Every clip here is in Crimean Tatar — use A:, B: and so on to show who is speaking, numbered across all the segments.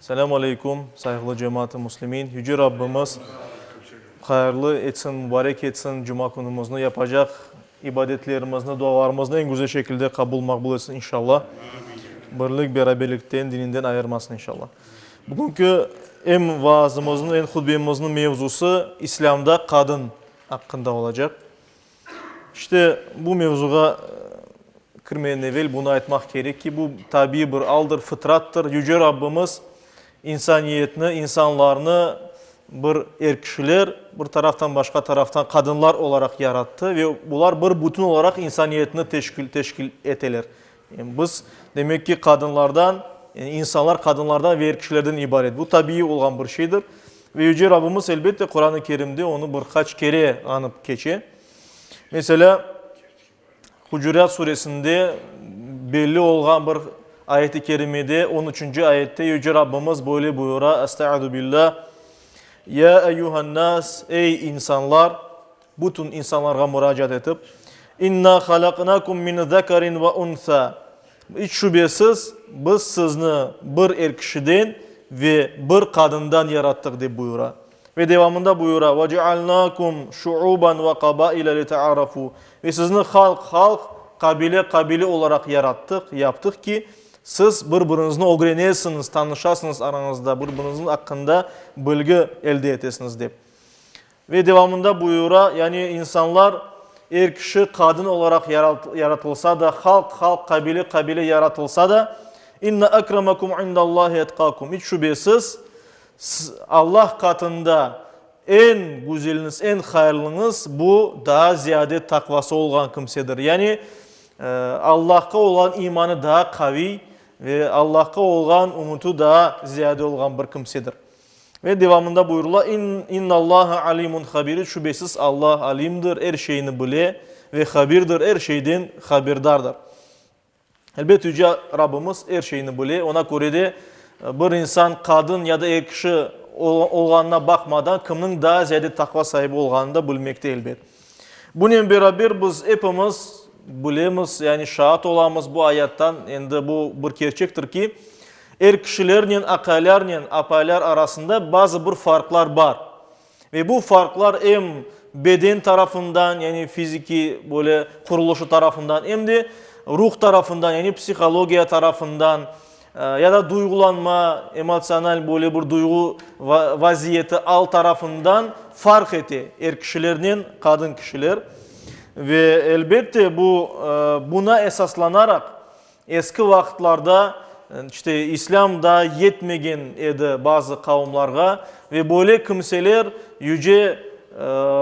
A: Selâm aleyküm, sayğılı cemaat-ı muslimin! Yüce Rabbimiz hayırlı etsin, mubarek etsin, cuma künümizni, yapacaq ibadetlerimizni, dualarımıznı eñ güzel şekilde qabul, maqbul etsin, inşalla. Birlik, beraberlikten, dininden ayırmasın, inşalla. Bugünki em vaazımıznıñ, em hutbemizniñ mevzusı İslâmda qadın aqqında olacaq. İşte, bu mevzuğa kirmeden evel bunı aytmaq kerek ki, bu tabiiy bir aldır, fıtrattır. Yüce Rabbimiz insaniyetni, insanlarnı bir er kişiler, bir taraftan, başqa taraftan qadınlar olaraq yarattı ve bular bir bütün olaraq insaniyetni teşkil, teşkil eteler. Biz, demek ki, qadınlardan, yani insanlar qadınlardan ve er kişilerden ibaret. Bu tabiiy olğan bir şeydir. Ve Yüce Rabbimiz, elbette, Quran-ı Kerimde onı bir qaç kere añıp keçe. Meselâ, Hucurat Suresinde belli olğan bir ayet-i kerimede, on üçünci ayette Yüce Rabbimiz böyle buyura, Estaizu billâh, Ya eyyuhan-nas, ey insanlar, Bütün insanlarğa muracaat etip, İnna halaqnakum min zekarin ve unsa, iç şübesiz, biz sizni bir er kişiden ve bir qadından yarattıq, dep buyura. Ve devamında buyura, Ve cealnakum şuuban ve qabaile litearafu, ve sizni halq, halq, qabile, qabile olaraq yarattıq, yaptıq ki, siz bir-biriñizni ögrenesiñiz, tanışasıñız aranızda, bir-biriñiz aqqında bilgi elde etesiñiz, dep. Ve devamında buyura, yani insanlar, er kişi qadın olaraq yaratılsa da, halq, halq, qabile, qabile yaratılsa da, İnne akramakum indallahi etqakum, iç şübesiz, Allah qatında eñ güzeliniz, eñ hayırlıñız, bu, daa ziyade taqvası olğan kimsedir. Yani Allahqa olğan imanı daa qaviy ve Allahqa olğan ümüti daa ziyade olğan bir kimsedir. Ve devamında buyurula, İn, İnnallâhe alimun habirî, şübesiz Alla alimdir, er şeyni bile, ve habirdir, er şeyden haberdardır. Elbet Yüce Rabbimiz er şeyni bile, oña köre de bir insan qadın ya da er kişi olğanına baqmadan kimniñ daa ziyade taqva saibi olğanını da bilmekte elbet. Bunen beraber biz epimiz bilemiz, yani şaat olamız bu ayattan, endi bu bir kerçektir ki, er kişilernen aqalarnen apalar arasında bazı bir farqlar bar. Ve bu farqlar em beden tarafından, yani fiziki böyle qurulışı tarafından, em de ruh tarafından, yani psihologiya tarafından, Ya da duyğulanma, emotsional böyle bir duyğu vaziyeti al tarafından farq ete er kişilernen qadın kişiler. Ve elbette bu, buna esaslanaraq eski vaqıtlarda, işte, İslâm daa yetmegen edi bazı qavımlarğa, Ve böyle kimseler Yüce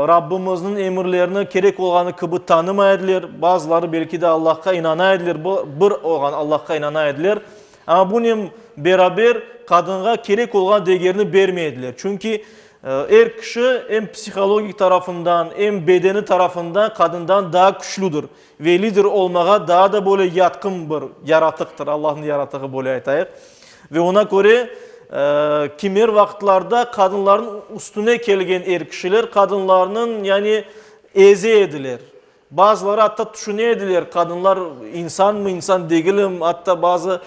A: Rabbimizniñ emirlerini kerek olğanı kibi tanımay ediler. Bazıları belki de Allahqa inana ediler, bir olğan Allahqa inana ediler. Amma bunen beraber qadınğa kerek olğan degerni bermey ediler. Çünki er kişi em psihologik tarafından, em bedeni tarafından qadından daa küçlüdir. Ve lider olmağa daa da böyle yatqın bir yaratıqtır, Allahnıñ yaratığı böyle aytayıq. Ve oña köre, kimer vaqıtlarda qadınlarnıñ üstüne kelgen er kişiler qadınlarnıñ, yani, eze ediler. Bazıları atta tüşüne ediler, qadınlar insanmı, insan degilim, atta bazı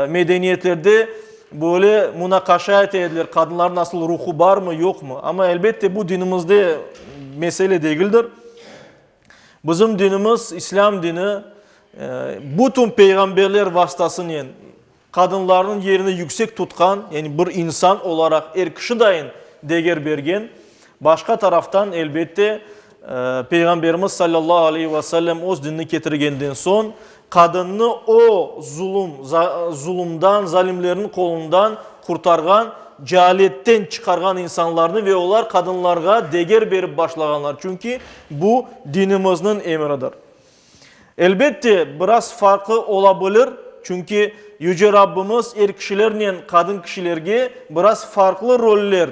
A: medeniyetlerde böyle munaqaşa ete ediler, qadınlarnıñ asıl ruhu barmı, yoqmı. Amma, elbette, bu dinimizde mesele degildir. Bizim dinimiz, İslâm dini, bütün peyğamberler vastasınen qadınlarnıñ yerini yüksek tutqan, yani bir insan olaraq er kişi dayın deger bergen. Başqa taraftan, elbette, Peyğamberimiz sallallahu aleyhi ve sellem öz dinini ketirgenden soñ, Qadınnı o zulum, zulumdan, zalimlerniñ qolundan qurtarğan, cealetten çıqarğan insanlarnı ve olar qadınlarğa deger berip başlağanlar, çünki bu dinimizniñ emridir. Elbette, biraz farqı ola bilir, çünki Yüce Rabbimiz er kişilernen qadın kişilerge biraz farqlı roller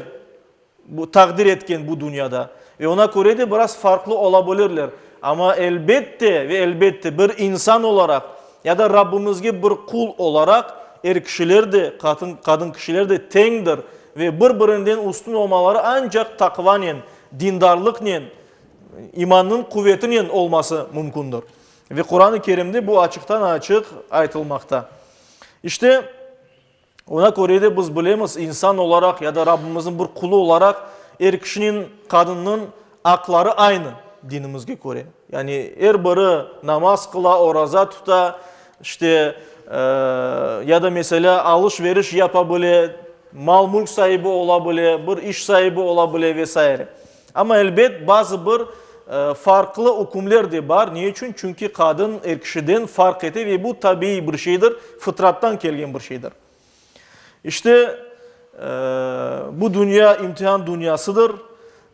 A: Bu, taqdir etken bu dünyada. Ve oña köre de biraz farqlı ola bilirler. Amma elbette ve elbette bir insan olaraq ya da Rabbimizge bir qul olaraq er kişiler de, qatın, qadın kişiler de teñdir ve bir-birinden üstün olmaları ancaq taqvanen, dindarlıqnen, imannıñ quvetinen olması mümkündir. Ve Quran-ı Kerimde bu açıqtan-açıq aytılmaqta. İşte, Oña köre de biz bilemiz, insan olaraq ya da Rabbimizniñ bir qulı olaraq, er kişiniñ, qadınnıñ aqları aynı, dinimizge köre. Yani er biri namaz qıla, oraza tuta, işte, ya da meselâ alış-veriş yapa bile, mal-mülk saibi ola bile, bir iş saibi ola bile ve saire. Amma, elbet, bazı bir farqlı ükümler de bar. Ne içün? Çünki qadın er kişiden farq ete ve bu tabiiy bir şeydir, fıtrattan kelgen bir şeydir. İşte, bu dünya imtihan dünyasıdır.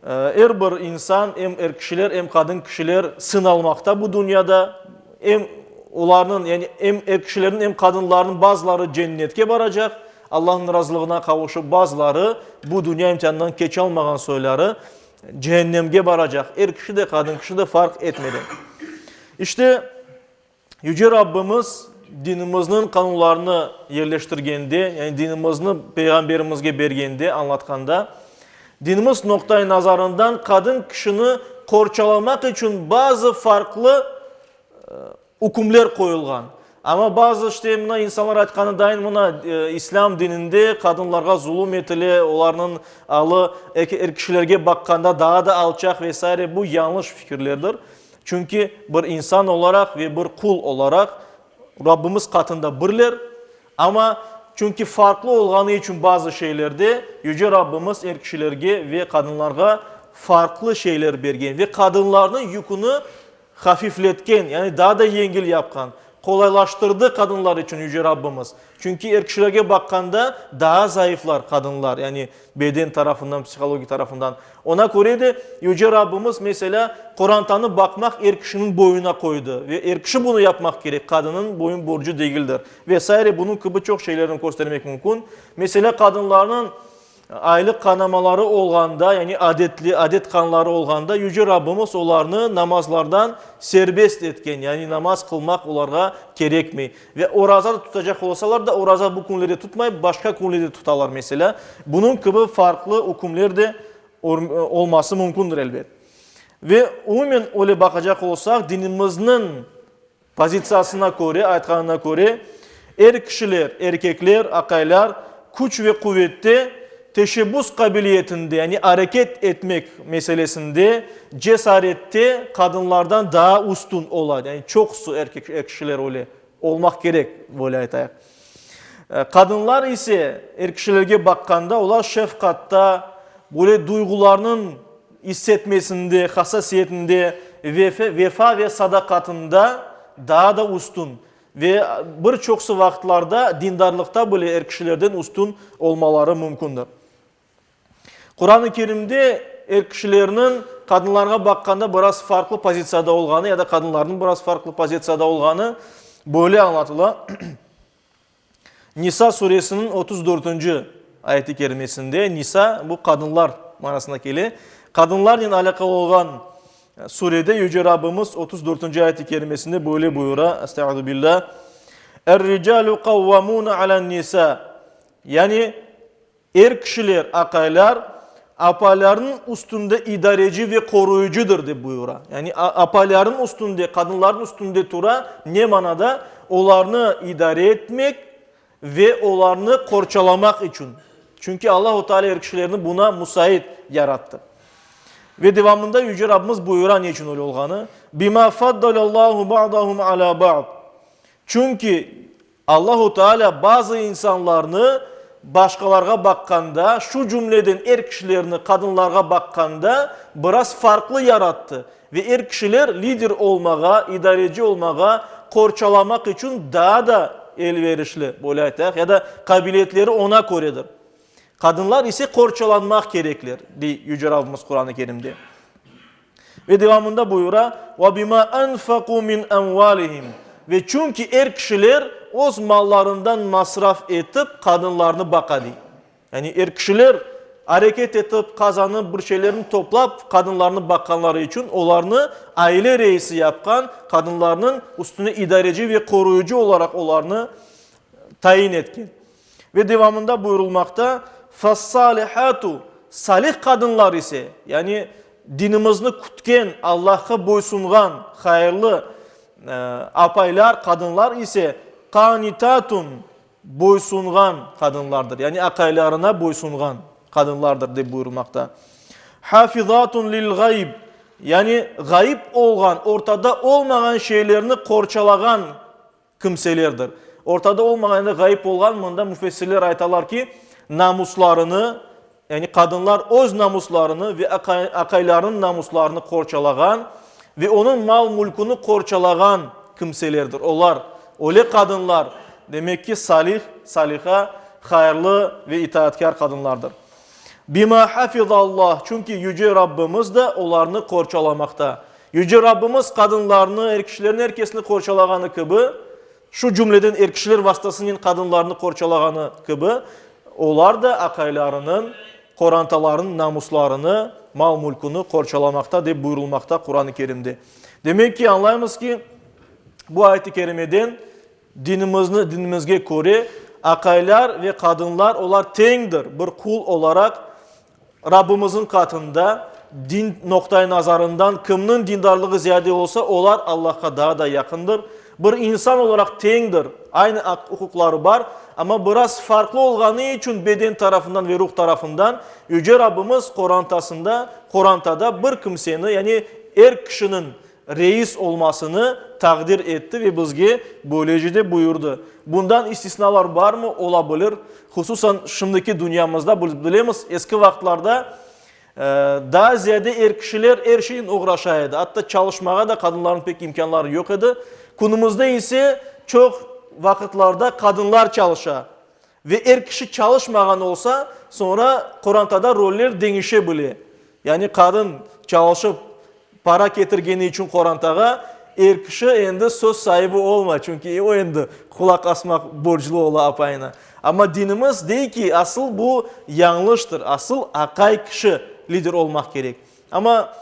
A: Er bir insan, em er kişiler, em qadın kişiler sınalmaqta bu dünyada. Em olarnıñ, yani em er kişilerniñ, em qadınlarnıñ bazıları cennetke baracaq, Allahnıñ razılığına qavuşıp, bazıları bu dünya imtihanından keçalmağan soyları cehennemge baracaq, er kişi de, qadın kişi de farq etmeden. İşte, Yüce Rabbimiz dinimizniñ qanunlarını yerleştirgende, yani dinimizni Peyğamberimizge bergende, añlatqanda, dinimiz noqtay nazarından qadın kişini qorçalamaq içün bazı farqlı Ükümler qoyulğan. Amma bazı işte mına insanlar aytqanıdayin mına İslâm dininde qadınlarğa zulum etile, olarnıñ alı er kişilerge baqqanda daa da alçaq ve saire. Bu yañlış fikirlerdir. Çünki bir insan olaraq ve bir qul olaraq Rabbimiz qatında birler. Amma çünki farqlı olğanı içün bazı şeylerde Yüce Rabbimiz er kişilerge ve qadınlarğa farqlı şeyler bergen ve qadınlarnıñ yüküni Hafifletken, yani daa da yengil yapqan, qolaylaştırdı qadınlar içün Yüce Rabbimiz. Çünki er kişilerge baqqanda daa zayıflar qadınlar, yani beden tarafından, psihologik tarafından. Ona köre de Yüce Rabbimiz, meselâ, qorantanı baqmaq er kişiniñ boyuna qoydı ve er kişi bunı yapmaq kerek, qadınıñ boyun borcu degildir. Ve saire bunıñ kibi çoq şeylerni köstermek mümkün. Meselâ, qadınlarnıñ. Aylıq qanamaları olğanda, yani adetli, adet qanları olğanda Yüce Rabbimiz olarnı namazlardan serbest etken, yani namaz qılmaq olarğa kerekmey. Ve oraza da tutacaq olsalar da, oraza bu künlerde tutmayıp, başqa künlerde tutalar, meselâ. Bunıñ kibi farqlı ükümler de olması mümkündir, elbet. Ve umumen öyle baqacaq olsaq, dinimizniñ Pozitsiyasına köre, aytqanına köre, er kişiler, erkekler, aqaylar, küç ve quvette, teşebbüs qabiliyetinde, yani areket etmek meselesinde, cesarette qadınlardan daa üstün ola, yani çoqusı er kişiler öyle olmaq kerek, böyle aytayıq. Qadınlar ise, er kişilerge baqqanda, olar şefqatta, böyle duyğularnıñ issetmesinde, hassasiyetinde, vefa ve sadaqatında daa da üstün ve bir çoqusı vaqıtlarda dindarlıqta bile er kişilerden üstün olmaları mümkündir. Quran-ı Kerimde er kişilerniñ qadınlarğa baqqanda biraz farqlı pozitsiyada olğanı ya da qadınlarnıñ biraz farqlı pozitsiyada olğanı böyle añlatıla, Nisa suresiniñ otuz dörtünci ayet-i kerimesinde nisa, bu qadınlar manasına kele, qadınlarnen alâqalı olğan surede Yüce Rabbimiz otuz dörtünci ayet-i kerimesinde böyle buyura, Estağuzubillah, Er-ricalu qavvamuna alan-nisa, yani, Er kişiler, aqaylar, apalarnıñ üstünde idareci ve qoruyıcıdır, dep buyura. Yani apalarnıñ üstünde, qadınlarnıñ üstünde tura, ne manada? Olarnı idare etmek ve olarnı qorçalamaq içün. Çünki Allahu Teala er kişilerni buna musait yarattı. Ve devamında Yüce Rabbimiz buyura ne içün öyle olğanı, Bima faddalallahu ba'dahum ala ba'd. Çünki Allahu Taalâ bazı insanlarnı başqalarğa baqqanda, şu cümleden er kişilerni qadınlarğa baqqanda biraz farqlı yarattı ve er kişiler lider olmağa, idareci olmağa qorçalamaq içün daa da elverişli, böyle aytayıq, ya da qabiliyetleri oña köredir. Qadınlar ise qorçalanmaq kerekler, dey Yüce Rabbimiz Quran-ı Kerimde. Ve devamında buyura, Ve bima enfeku min emvalihim Ve çünki er kişiler öz mallarından masraf etip qadınlarnı baqa, dey. Yani er kişiler areket etip, qazanıp, bir şeylerni toplap qadınlarnı baqqanları içün olarnı aile reisi yapqan, qadınlarnıñ üstüne idareci ve qoruyıcı olaraq olarnı tayin etken. Ve devamında buyurulmaqta, Fes-salihatu, salih qadınlar ise, yani dinimizni kütken, Allahqa boysunğan, hayırlı apaylar, qadınlar ise, qanitatun, boysunğan qadınlardır, yani aqaylarına boysunğan qadınlardır, dep buyurulmaqta. Hafizatun lil-ğayb, yani ğayıp olğan, ortada olmağan şeylerni qorçalağan kimselerdir. Ortada olmağanı ğayıp olğan, mında müfessirler aytalar ki, namuslarını, yani qadınlar öz namuslarını ve aqaylarınıñ namuslarını qorçalağan ve onıñ mal-mülküni qorçalağan kimselerdir. Olar, öyle qadınlar, demek ki, salih, saliha, hayırlı ve itaatkâr qadınlardır. Bima hafizallah, çünki Yüce Rabbimiz de olarnı qorçalamaqta. Yüce Rabbimiz qadınlarnı, er kişilerni, er kesni qorçalağanı kibi, şu cümleden er kişiler vastasınen qadınlarnı qorçalağanı kibi, olar da aqaylarınıñ qorantalarınıñ namuslarını, mal-mülküni qorçalamaqta, dep buyurılmaqta Quran-ı Kerimde. Demek ki, añlaymız ki, bu ayet-i kerimeden Dinimizni dinimizge köre, aqaylar ve qadınlar olar teñdir, bir qul olaraq Rabbimizniñ qatında, din noqtay nazarından kimniñ dindarlığı ziyade olsa, olar Allahqa daa da yaqındır. Bir insan olaraq teñdir, aynı aq-uquqları bar, amma biraz farqlı olğanı içün beden tarafından ve ruh tarafından Yüce Rabbimiz qorantasında, qorantada bir kimseni, yani er kişiniñ reis olmasını taqdir etti ve bizge böylece de buyurdı. Bundan istisnalar barmı? Ola bilir. Hususan şimdiki dünyamızda biz bilemiz, eski vaqıtlarda daa ziyade er kişiler er şeynen oğraşa edi. Atta çalışmağa da qadınlarnıñ pek imkânları yoq edi. Künümizde ise çoq vaqıtlarda qadınlar çalışa. Ve er kişi çalışmağan olsa, soñra qorantada roller deñişe bile. Yani qadın çalışıp para ketirgeni içün qorantağa, er kişi endi söz saibi olmay, çünki o endi qulaq asmaq borclu ola apayına. Amma dinimiz dey ki, asıl bu yañlıştır, asıl aqay kişi lider olmaq kerek. Amma.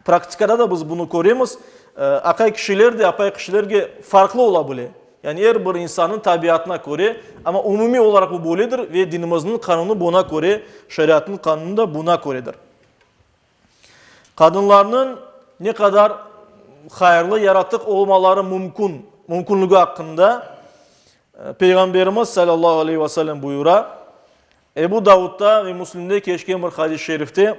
A: Praktikada da biz bunı köremiz, aqay kişiler de apay kişilerge farqlı ola bile. Yani er bir insannıñ tabiatına köre, amma umumiy olaraq bu böyledir ve dinimizniñ qanunı buna köre, şeriatnıñ qanunı da buna köredir. Qadınlarnıñ ne qadar hayırlı yaratıq olmaları mümkün, mümkünligi aqqında Peyğamberimiz sallallahu aleyhi ve sellem buyura, Ebu Davudda ve Müslimde keçken bir hadis-i şerifte,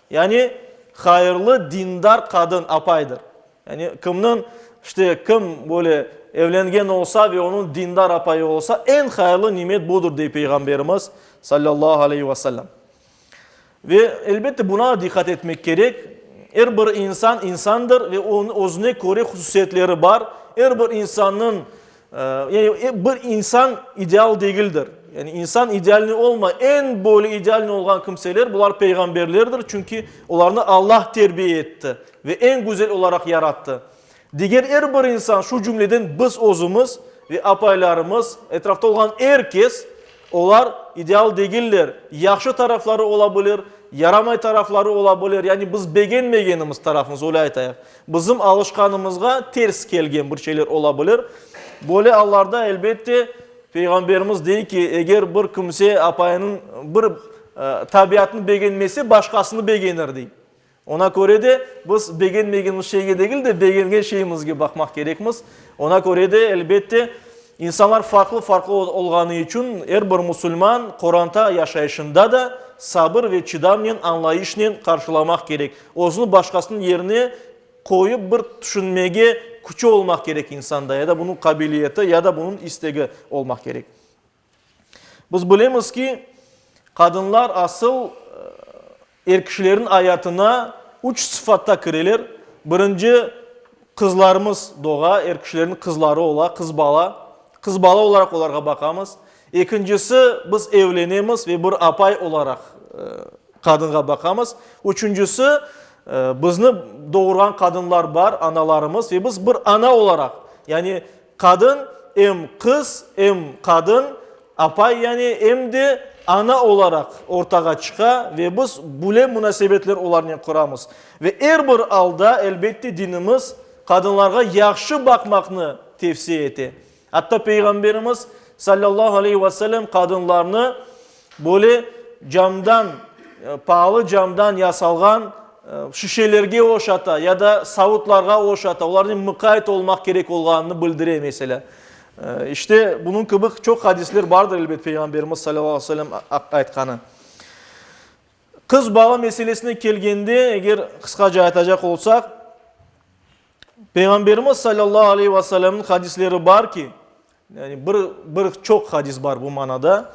A: Yani, hayırlı, dindar qadın, apaydır. Yani, kimniñ, işte, kim böyle evlengen olsa ve onıñ dindar apayı olsa, eñ hayırlı nimet budır, dey Peyğamberimiz, sallallahu aleyhi ve sellem. Ve, elbette, buna diqqat etmek kerek, er bir insan, insandır ve onıñ özüne köre hususiyetleri bar. Er bir insannıñ Yani bir insan ideal degildir. Yani insan idealniy olma, eñ böyle idealniy olğan kimseler, bular peyğamberlerdir, çünki olarnı Allah terbiye etti ve eñ güzel olaraq yarattı. Diger er bir insan, şu cümleden biz özümiz ve apaylarımız, etrafta olğan er kes, Olar ideal degiller, yahşı tarafları ola bilir, yaramay tarafları ola bilir, yani biz begenmegenimiz tarafımız, öyle aytayıq. Bizim alışqanımızğa ters kelgen bir şeyler ola bilir. Böyle allarda, elbette, Peyğamberimiz dey ki, eger bir kimse apayınıñ bir tabiatını begenmese, başqasını begenir, dey. Oña köre de, biz begenmegenimiz şeyge degil de, begengen şeyimizge baqmaq kerekmiz. Oña köre de, elbette, insanlar farqlı-farqlı olğanı içün, er bir musulman qoranta yaşayışında da sabır ve çıdamnen, añlayışnen qarşılamaq kerek. Özüni başqasınıñ yerine qoyıp bir tüşünmege küçü olmaq kerek insanda, ya da bunıñ qabiliyeti, ya da bunıñ istegi olmaq kerek. Biz bilemiz ki, qadınlar asıl er kişilerin ayatına üç sıfatta kireler, birinci, qızlarımız doğa, er kişilerin qızları ola, qız bala, qız bala olaraq olarğa baqamız. Ekincisi, biz evlenemiz ve bir apay olaraq qadınğa baqamız. Üçüncisi, bizni doğurğan qadınlar bar, analarımız ve biz bir ana olaraq, yani Qadın, em qız, em qadın, apay yani, em de ana olaraq ortağa çıqa ve biz bule munasebetler olarnen quramız. Ve er bir alda, elbette, dinimiz qadınlarğa yahşı baqmaqnı tevsiye ete. Atta Peyğamberimiz, sallallahu aleyhi ve sellem, qadınlarnı, Böyle camdan, paalı camdan yasalğan şişelerge oşata ya da savutlarğa oşata olarnen muqayet olmaq kerek olğanını bildire, meselâ. İşte, bunıñ kibi çoq hadisler bardır, elbet, Peyğamberimiz salâllahu aleyhi ve sellem aytqanı. Qız balı meselesine kelgende, eger qısqaca aytacaq olsaq, Peyğamberimiz salâllahu aleyhi ve sellemniñ hadisleri bar ki, Yani bir, bir çoq hadis bar bu manada.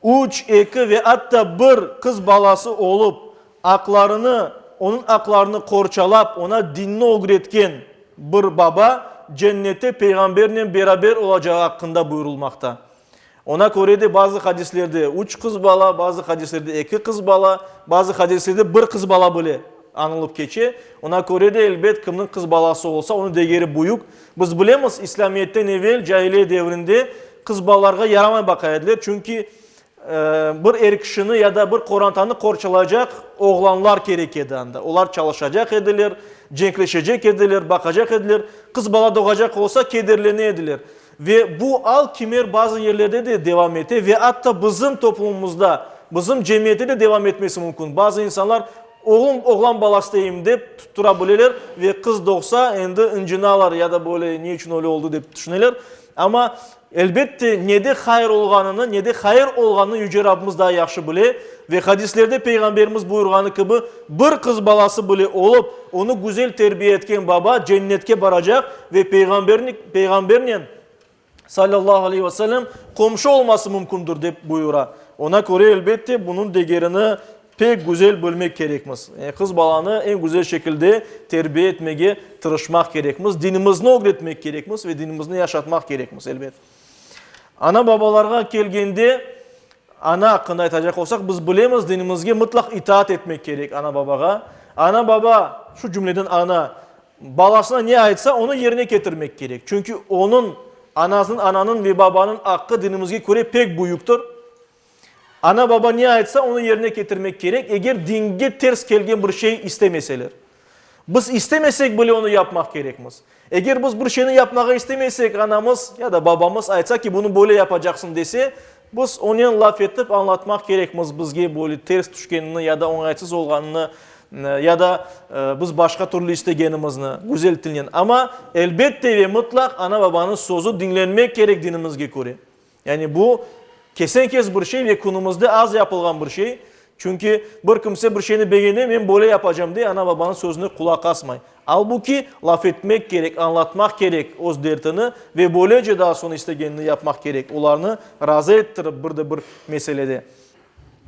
A: Üç, eki ve atta bir qız balası olıp, aqlarını, onıñ aqlarını qorçalap, ona dinni ögretken bir baba Cennette Peyğambernen beraber olacağı aqqında buyurılmaqta. Ona köre de bazı hadislerde üç qız bala, bazı hadislerde eki qız bala, bazı hadislerde bir qız bala bile añılıp keçe. Ona köre de, elbet, kimniñ qız balası olsa, onıñ degeri büyük, Biz bilemiz, İslâmiyetten evel cahiliye devrinde qız balalarğa yaramay baqa ediler, çünki bir er kişini ya da bir qorantanı qorçalaycaq oğlanlar kerek edi anda. Olar çalışacaq ediler, cenkleşecek ediler, baqacaq ediler. Qız bala doğacaq olsa, kederlene ediler. Ve bu al kimer bazı yerlerde de devam ete ve atta bizim toplumımızda, bizim cemiyette de devam etmesi mümkün. Bazı insanlar Oğlum, oğlan balası deyim, dep tuttura bileler ve qız doğsa, endi ıncınalar ya da böyle ne içün öyle oldı dep tüşüneler. Amma, elbette, ne de hayır olğanını, ne de hayır olğanını Yüce Rabbimiz daa yahşı bile. Ve hadislerde Peyğamberimiz buyurğanı kibi, bir qız balası bile olıp, onı güzel terbiye etken baba Cennetke baracaq ve Peyğamberni, Peyğambernen sallallahu aleyhi ve sellem, qomşu olması mümkündir, dep buyura. Oña köre, elbette, bunıñ degerini pek güzel bilmek kerekmiz. Yani qız balanı eñ güzel şekilde terbiye etmege tırışmaq kerekmiz, dinimizni ögretmek kerekmiz ve dinimizni yaşatmaq kerekmiz, elbet. Ana-babalarğa kelgende, ana aqqında aytacaq olsaq, biz bilemiz, dinimizge mıtlaq itaat etmek kerek ana-babağa. Ana-baba, şu cümleden ana, Balasına ne aytsa, onı yerine ketirmek kerek. Çünki onıñ, anasınıñ, ananıñ ve babanıñ aqqı dinimizge köre pek büyüktir. Ana-baba ne aytsa, onı yerine ketirmek kerek, eger dinge ters kelgen bir şey istemeseler. Biz istemesek bile onı yapmaq kerekmiz. Eger biz bir şeyni yapmağa istemeysek, anamız ya da babamız aytsa ki, bunı böyle yapacaqsıñ dese, Biz onen laf etip añlatmaq kerekmiz bizge böyle ters tüşkenini ya da oñaytsız olğanını ya da biz başqa türlü istegenimizni, güzel tilnen. Amma elbette ve mıtlaq ana-babanıñ sözü diñlenmek kerek dinimizge köre. Yani bu kesen-kes bir şey ve künümizde az yapılğan bir şey. Çünki bir kimse bir şeyni beğene, men böyle yapacam, dey, ana-babanıñ sözüne qulaq asmay. Albuki, laf etmek kerek, añlatmaq kerek öz dertini ve böylece daa soñ istegenini yapmaq kerek, olarnı razı ettirip bir de bir meselede.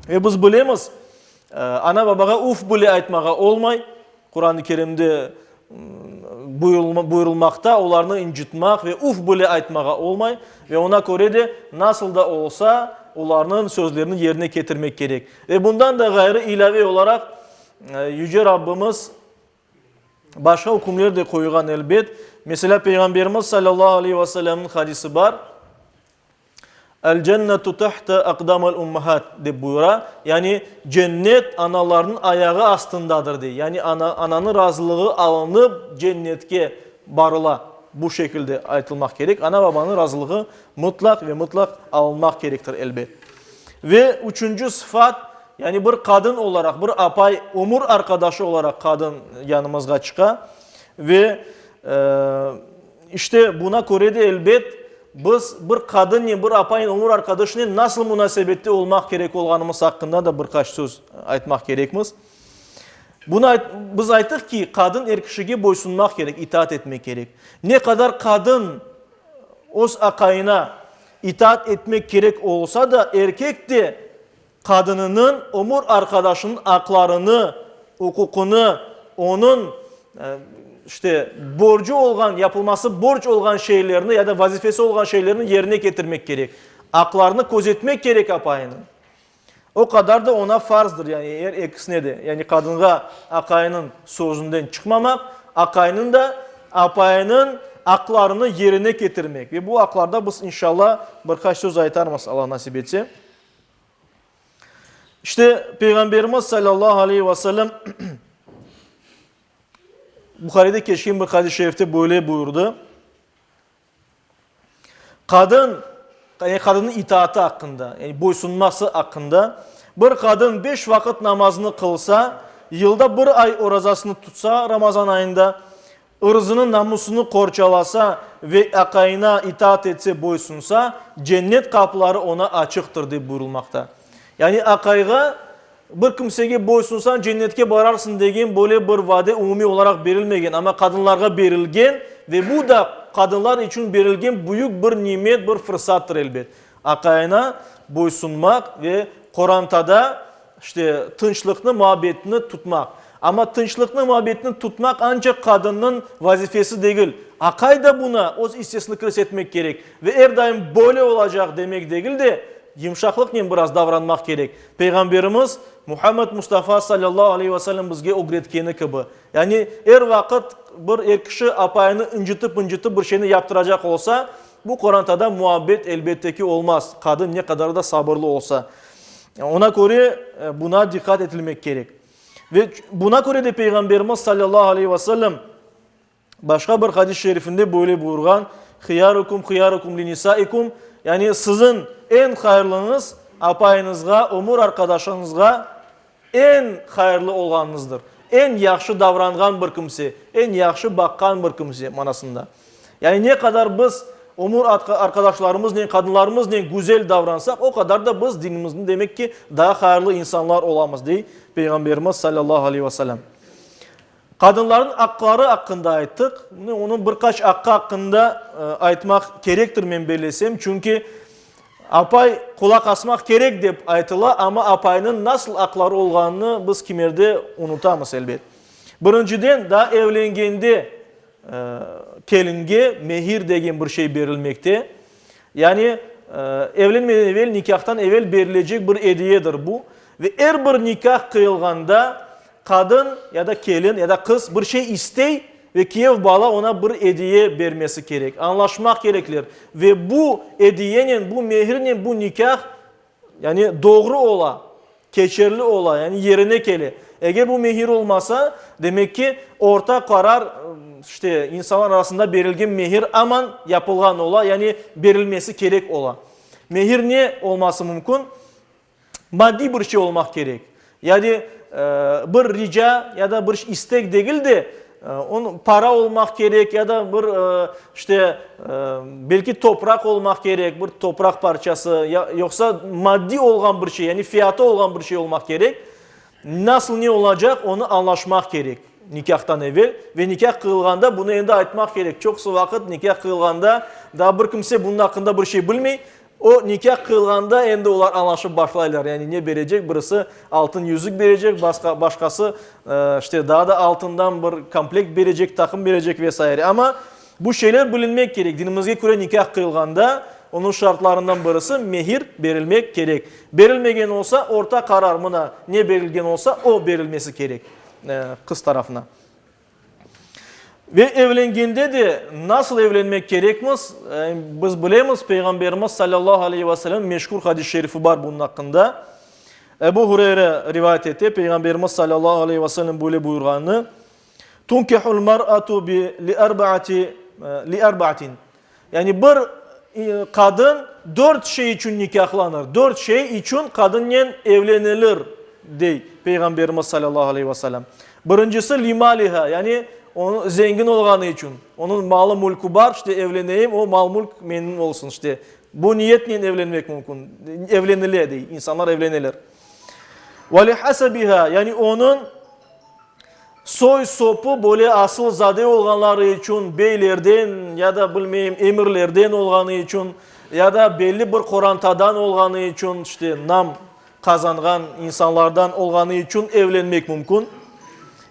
A: Ve biz bilemiz, ana-babağa uf bile aytmağa olmay, Quran-ı Kerimde buyurılmaqta, olarnı incitmaq ve uf bile aytmağa olmay ve oña köre de nasıl da olsa olarnıñ sözlerini yerine ketirmek kerek. Ve bundan da ğayrı ilâve olaraq Yüce Rabbimiz başqa ükümler de qoyğan, elbet. Meselâ, Peyğamberimiz salâllahu aleyhi ve sellemniñ hadisi bar. El cennetu tehte aqdamil ummahat, dep buyura, yani cennet analarnıñ ayağı astındadır, dey. Yani ana, ananıñ razılığı alınıp cennetke barıla. Bu şekilde aytılmaq kerek. Ana, babanıñ razılığı mıtlaq ve mıtlaq alınmaq kerektir, elbet. Ve üçünci sıfat, yani bir qadın olaraq, bir apay, ömür arqadaşı olaraq qadın yanımızğa çıqa. Ve, işte, buna köre de, elbet, Biz bir qadınnen, bir apanen, ömür arqadaşınen nasıl munasebette olmaq kerek olğanımız aqqında da bir qaç söz aytmaq kerekmiz. Bunı ayt, biz ayttıq ki, qadın er kişige boysunmaq kerek, itaat etmek kerek. Ne qadar qadın öz aqayına itaat etmek kerek olsa da, erkek de qadınınıñ ömür arqadaşınıñ aqlarını, uquqını, onıñ, işte, borcu olğan, yapılması borc olğan şeylerni ya da vazifesi olğan şeylerni yerine ketirmek kerek. Aqlarını közetmek kerek apayınıñ. O qadar da oña farzdır, yani, er ekisine de, yani, qadınğa aqayınıñ sözünden çıqmamaq, aqayınıñ da apayınıñ aqlarını yerine ketirmek. Ve bu aqlarda biz, inşalla, bir qaç söz aytarmız, Alla nasip etse. İşte, Peyğamberimiz sallallahu aleyhi ve sellem Buharide keçken bir hadis-i şerifte böyle buyurdı. Qadın, yani qadının itaatı hakkında, yani boysunması hakkında bir qadın beş vaqıt namazını qılsa, yılda bir ay orazasını tutsa Ramazan ayında, ırzını, namusını qorçalasa ve aqayına itaat etse, boysunsa, cennet qapıları oña açıqtır, dep buyurılmaqta. Yani aqayğa, bir kimsege boysunsañ, cennetke bararsıñ degen böyle bir vade umumiy olaraq berilmegen, amma qadınlarğa berilgen ve bu da qadınlar içün berilgen büyük bir nimet, bir fırsattır, elbet. Aqayına boysunmaq ve qorantada İşte, tınçlıqnı, muabbetni tutmaq. Amma tınçlıqnı, muabbetni tutmaq ancaq qadınnıñ vazifesi degil. Aqay da buña öz issesini kiris etmek kerek. Ve er daim böyle olacaq demek degil de, yımşaqlıqnen biraz davranmaq kerek. Peyğamberimiz Muhammed Mustafa sallallahu aleyhi ve sellem bizge ögretkeni kibi. Yani, er vaqıt bir er kişi apayını incitip-incitip bir şeyni yaptıracaq olsa, Bu qorantada muabbet elbette ki olmaz, qadın ne qadar da sabırlı olsa. Ona köre buna diqqat etilmek kerek. Ve buna köre de Peyğamberimiz sallallahu aleyhi ve sellem başqa bir hadis-i şerifinde böyle buyurğan, Hıyarukum hıyarukum li nisaikum, yani siziñ eñ hayırlıñız apayıñızğa, ömür arqadaşıñızğa Eñ hayırlı olğanıñızdır. Eñ yahşı davranğan bir kimse, eñ yahşı baqqan bir kimse manasında. Yani ne qadar biz ömür arqadaşlarımıznen, qadınlarımıznen güzel davransaq, o qadar da biz dinimizde demek ki, daa hayırlı insanlar olamız, dey Peyğamberimiz sallallahu aleyhi ve sellem. Qadınlarnıñ aqları aqqında ayttıq. Şimdi onıñ bir qaç aqqı aqqında aytmaq kerektir, men bellesem. Çünki apay qulaq asmaq kerek dep aytıla, amma apaynıñ nasıl aqları olğanını biz kimerde unutamız, elbet. Birinciden, daa evlengende kelinge mehir degen bir şey berilmekte. Yani evlenmeden evel, nikâhtan evel berilecek bir ediyedir bu. Ve er bir nikâh qıyılğanda, Qadın ya da kelin ya da qız bir şey istey ve kiyev bala ona bir ediye bermesi kerek. Añlaşmaq kerekler ve bu ediyenen, bu mehirnen bu nikâh, yani doğru ola, keçerli ola, yani yerine kele. Eger bu mehir olmasa, demek ki, orta qarar, işte, insanlar arasında berilgen mehir aman yapılğan ola, yani berilmesi kerek ola. Mehir ne olması mümkün? maddiy bir şey olmaq kerek, ya de bir rica ya da bir istek degil de, onı para olmaq kerek ya da bir işte belki topraq olmaq kerek, bir topraq parçası, yoqsa maddiy olğan bir şey, yani fiyatı olğan bir şey olmaq kerek. Nasıl ne olacaq, onı añlaşmaq kerek nikâhtan evel ve nikâh qıyılğanda bunı endi aytmaq kerek. Çoqusı vaqıt nikâh qıyılğanda daa bir kimse bunun aqqında bir şey bilmey, O, nikâ qıyılğanda endi olar añlaşıp başlaylar, yani ne berecek, birisi altın yüzük berecek, basqa, başqası, işte, daa da altından bir komplekt berecek, taqım berecek ve saire. Amma bu şeyler bilinmek kerek. Dinimizge köre nikâ qıyılğanda onıñ şartlarından birisi, mehir berilmek kerek. Berilmegen olsa, orta qarar, mına, ne berilgen olsa, o berilmesi kerek qız tarafına. Ve evlengende de nasıl evlenmek kerekmiz? Biz bilemiz, Peyğamberimiz sallallahu aleyhi ve sellem meşhur hadis-i şerifi bar bunun aqqında. Ebu Hureyre rivayet ete, Peyğamberimiz sallallahu aleyhi ve sellem böyle buyurğanını, Tunkihul mar'atu li erba'ati, li erba'atin. Yani bir qadın dört şey içün nikâhlanır, dört şey içün qadınnen evlenilir, dey Peyğamberimiz salâllahu aleyh ve selâm. Birincisi, limâliha, yani onıñ zengin olğanı içün, onıñ malı-mülkü bar, işte evleneyim, o mal-mülk menim olsun, işte bu niyetnen evlenmek mümkün, evlenile, dey, insanlar evleneler. Ve li hasabiha, yani onıñ Soy-sopu böyle asılzade olğanları içün, beylerden ya da, bilmeyim, emirlerden olğanı içün, ya da belli bir qorantadan olğanı içün, işte, nam qazanğan insanlardan olğanı içün evlenmek mümkün,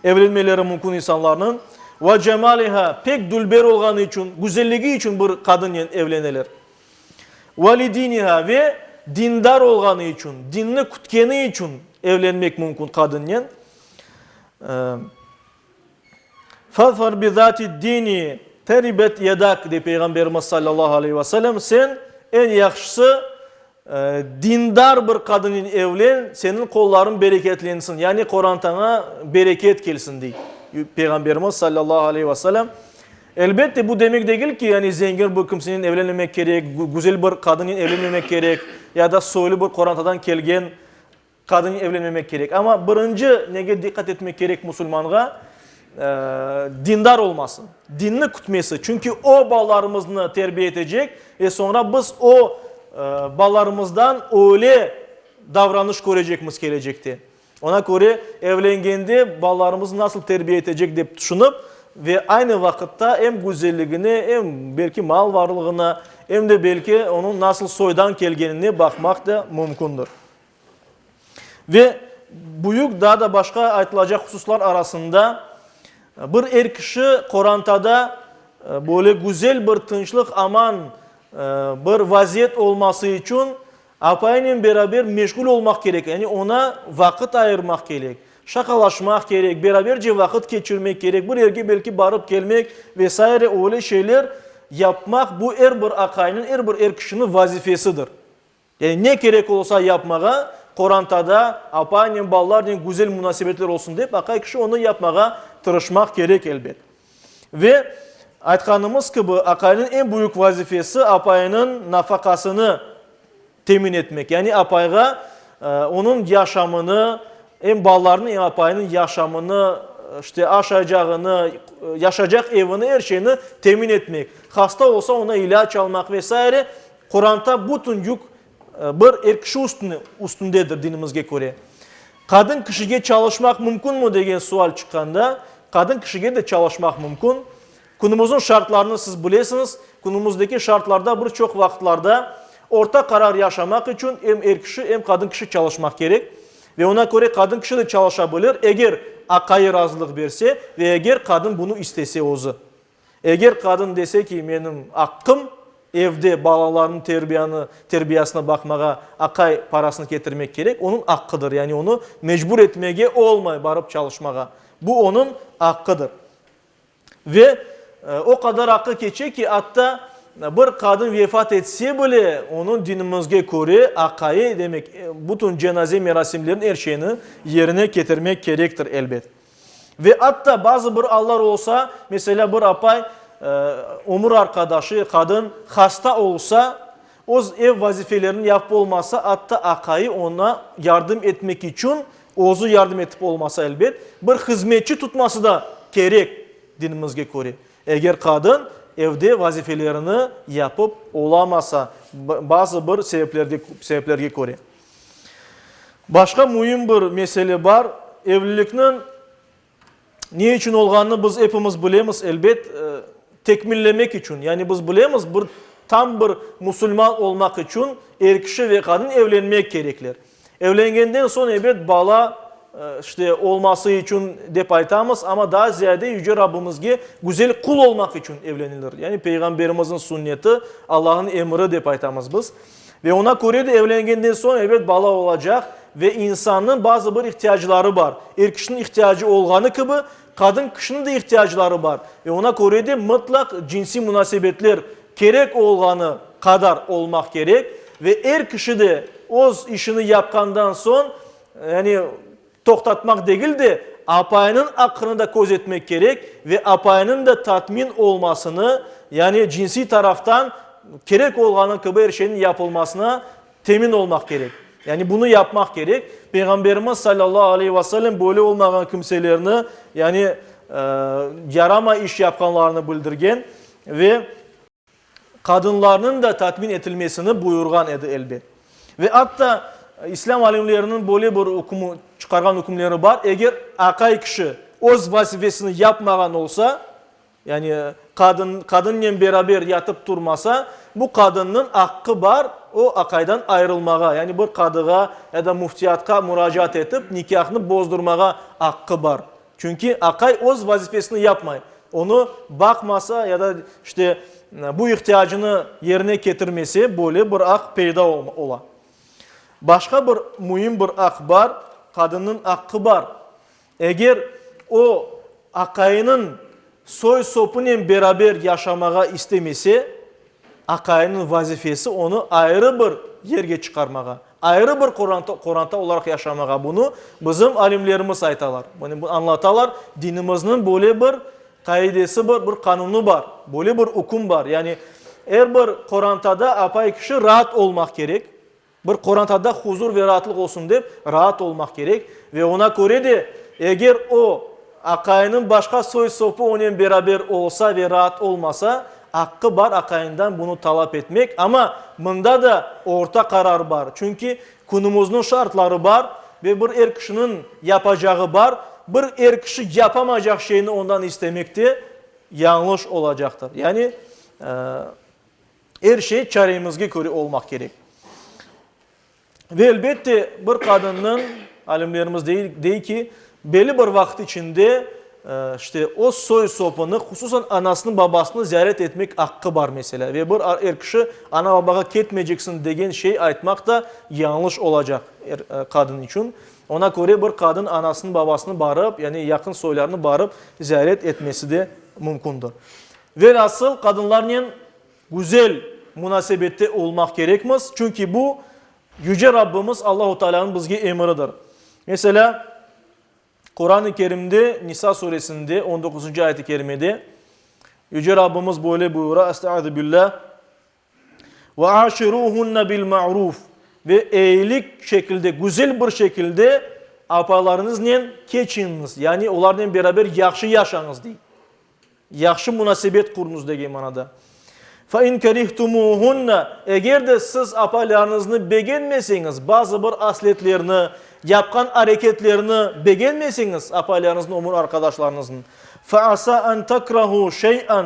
A: evlenmeleri mümkün insanlarnıñ. Ve cemaliha, pek dülber olğanı içün, güzelligi içün bir qadınnen evleneler. Ve li diniha, ve dindar olğanı içün, dinni kütkeni içün evlenmek mümkün qadınnen. Fazfar bi zati dini teribet yedak dey Peyğamberimiz sallallahu aleyh ve sellem, sen eñ yahşısı dindar bir qadınen evlen, seniñ qollarıñ bereketlensin, yani qorantaña bereket kelsin dey Peyğamberimiz sallallahu aleyh ve sellem. Elbette bu demek degil ki, yani zengin bir kimsenen evlenmemek kerek, güzel bir qadınen evlenmemek kerek ya da soylu bir qorantadan kelgen Qadın evlenmemek kerek. Amma birinci nege diqqat etmek kerek musulmanğa, dindar olması, dinni kütmesi. Çünki o balalarımıznı terbiye etecek ve soñra biz o balalarımızdan öyle davranış körecekmiz kelecekte. Ona köre evlengende balalarımıznı nasıl terbiye etecek dep tüşünip ve aynı vaqıtta em güzelligine, em belki mal varlığına, em de belki onıñ nasıl soydan kelgenine baqmaq da mümkündir. Ve büyük daa da başqa aytılacaq hususlar arasında, bir er kişi qorantada böyle güzel bir tınçlıq, aman bir vaziyet olması içün apayınen beraber meşgul olmaq kerek, yani ona vaqıt ayırmaq kerek, şaqalaşmaq kerek, beraberce vaqıt keçirmek kerek, bir yerge belki barıp kelmek ve saire öyle şeyler yapmaq bu er bir aqaynıñ, er bir er kişiniñ vazifesidir. Yani ne kerek olsa yapmağa, qorantada apanen, balalarnen güzel munasebetler olsun dep, aqay kişi onı yapmağa tırışmaq kerek, elbet. Ve aytqanımız kibi, aqaynıñ eñ büyük vazifesi, apaynıñ nafaqasını temin etmek. Yani apayğa onıñ yaşamını, em balalarnıñ, em apaynıñ yaşamını, işte aşaycağını, yaşaycaq evini, er şeyni temin etmek. Hasta olsa, ona ilâc almaq ve saire. Quranta bütün yük bir er kişi üstündedir, dinimizge köre. Qadın kişige çalışmaq mümkünmi degen sual çıqqanda, qadın kişige de çalışmaq mümkün. Künümüzniñ şartlarını siz bilesiñiz. Künümüzdeki şartlarda bir çoq vaqıtlarda orta qarar yaşamaq içün em er kişi, em qadın kişi çalışmaq kerek. Ve oña köre qadın kişi de çalışa bilir, eger aqayı razılıq berse ve eger qadın bunı istese özü. Eger qadın dese ki, menim aqqım, evde balalarnıñ terbiyanı, terbiyasına baqmağa aqay parasını ketirmek kerek, onıñ aqqıdır, yani onı mecbur etmege olmay barıp çalışmağa, bu onıñ aqqıdır. Ve o qadar aqqı keçe ki, atta bir qadın vefat etse bile, onıñ dinimizge köre aqayı, demek, bütün cenaze merasimlerini, er şeyni yerine ketirmek kerektir, elbet. Ve atta bazı bir allar olsa, meselâ, bir apay, ömür arqadaşı, qadın, hasta olsa, öz ev vazifelerini yapıp olmasa, atta aqayı oña yardım etmek içün, özü yardım etip olmasa, elbet, bir hızmetçi tutması da kerek, dinimizge köre, eger qadın evde vazifelerini yapıp olamasa, bazı bir sebeplerge köre. Başqa müim bir mesele bar, evlilikniñ ne içün olğanını biz epimiz bilemiz, elbet, tekmillemek içün. Yani biz bilemiz, bir tam bir musulman olmaq içün er kişi ve qadın evlenmek kerekler. Evlengenden soñ, ebet, bala, işte, olması içün dep aytamız, amma daa ziyade Yüce Rabbimizge güzel qul olmaq içün evlenilir. Yani Peyğamberimizniñ sünneti, Allahnıñ emiri dep aytamız biz. Ve oña köre de evlengenden soñ, elbet, bala olacaq ve insannıñ bazı bir ihtiyacları bar. Er kişiniñ ihtiyacı olğanı kibi, qadın kişiniñ de ihtiyacları bar. Ve oña köre de mıtlaq cinsiy munasebetler kerek olğanı qadar olmaq kerek. Ve er kişi de öz işini yapqandan soñ, yani, Toqtatmaq degil de, apayınıñ aqqını da köz etmek kerek ve apayınıñ da tatmin olmasını, yani cinsiy taraftan kerek olğanı kibi er şeyniñ yapılmasına temin olmaq kerek. Yani bunı yapmaq kerek. Peyğamberimiz sallallahu aleyhi ve sellem böyle olmağan kimselerni, yani yarama iş yapqanlarını bildirgen ve. qadınlarnıñ da tatmin etilmesini buyurğan edi, elbet. Ve atta İslâm alimleriniñ böyle bir ükümü, çıqarğan ükümleri bar, eger aqay kişi öz vazifesini yapmağan olsa, yani qadın, qadınnen beraber yatıp turmasa, bu qadınnıñ aqqı bar, o aqaydan ayırılmağa, yani bir qadığa ya da müftiyatqa muracaat etip, nikâhnı bozdurmağa aqqı bar. Çünki aqay öz vazifesini yapmay, onı baqmasa ya da işte bu ihtiyacını yerine ketirmese, böyle bir aq peyda ola. Başqa bir müim bir aq bar, qadınnıñ aqqı bar. Eger o, aqayınıñ soy-sopınen beraber yaşamağa istemese, Aqayımnıñ vazifesi onı ayrı bir yerge çıqarmağa, ayrı bir qoranta olaraq yaşamağa, bunı bizim alimlerimiz aytalar, añlatalar, dinimizniñ böyle bir qaidesi bar, bir qanunı bar, böyle bir üküm bar, yani er bir qorantada apay kişi raat olmaq kerek, Bir qorantada huzur ve raatlıq olsun dep, raat olmaq kerek ve oña köre de, eger o, aqayınıñ başqa soy-sopı onen beraber olsa ve raat olmasa, aqqı bar aqayından bunı talap etmek, amma mında da orta qarar bar, çünki künümüzniñ şartları bar ve bir er kişiniñ yapacağı bar, bir er kişi yapamaycaq şeyni ondan istemek de yañlış olacaqtır. Yani, Er şey çaremizge köre olmaq kerek. Ve elbette, bir qadınnıñ, alimlerimiz dey ki, belli bir vaqıt içinde, işte, öz soy-sopını, hususan anasını-babasını ziyaret etmek aqqı bar, meselâ. Ve bir er kişi, ana-babağa ketmeyceksiñ degen şey aytmaq da yañlış olacaq er qadın içün. Oña köre bir qadın anasını-babasını barıp, yani yaqın soylarını barıp ziyaret etmesi de mümkündir. Velhasıl, qadınlarnen güzel munasebette olmaq kerekmiz, çünki bu, Yüce Rabbimiz Allahu Tealânıñ bizge emiridir. Meselâ, Quran-ı Kerimde, Nisa suresinde, on doquzıncı ayet-i kerimede, Yüce Rabbimiz böyle buyura, Estaizu billâh, Ve aşiruhunne bil ma'ruf, ve eyilik şekilde, güzel bir şekilde apalarıñıznen keçiñiz, yani olarnen beraber yahşı yaşañız, dey. Yahşı munasebet quruñız degen manada. Fe in kerihtumuhunne, eger de siz apalarıñıznı begenmeseñiz, bazı bir asletlerini, yapqan areketlerini begenmeseñiz apalarıñıznıñ, ömür arqadaşlarıñıznıñ, fe asa en tekrahu şey'en,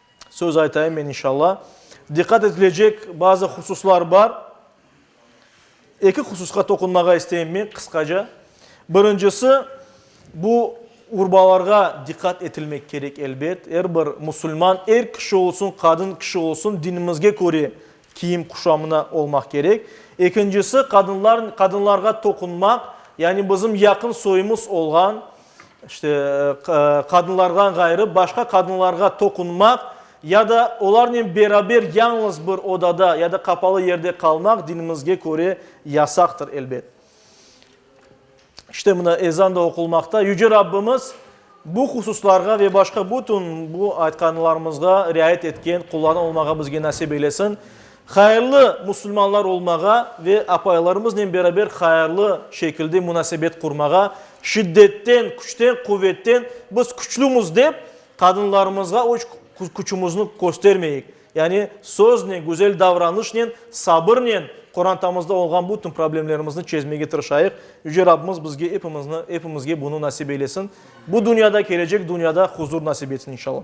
A: Söz aytayım men inşalla. Diqqat etilecek bazı hususlar bar. Eki hususqa toqunmağa isteyim men qısqaca. Birincisi, bu urbalarğa diqqat etilmek kerek, elbet. Er bir musulman, er kişi olsun, qadın kişi olsun, dinimizge köre kiyim quşamına olmaq kerek. Ekincisi, qadınlar, qadınlarğa toqunmaq, yani bizim yaqın soyumız olğan, işte, qadınlardan ğayrı başqa qadınlarğa toqunmaq ya da olarnen beraber yalıñız bir odada ya da qapalı yerde qalmaq dinimizge köre yasaqtır, elbet. İşte mına ezan da oqulmaqta. Yüce Rabbimiz bu hususlarğa ve başqa bütün bu aytqanlarımızğa riayet etken qullardan olmağa bizge nasip eylesin. Hayırlı musulmanlar olmağa ve apaylarımıznen beraber hayırlı şekilde munasebet qurmağa, şiddetten, küçten, quvetten biz küçlümiz dep qadınlarımızğa öç küçümizni köstermeyik. Yani, söznen, güzel davranışnen, sabırnen qorantamızda olğan bütün problemlerimizni çezmege tırışayıq. Yüce Rabbimiz bizge epimizni, epimizge bunı nasip eylesin. Bu dünyada, kelecek dünyada huzur nasip etsin, inşallah.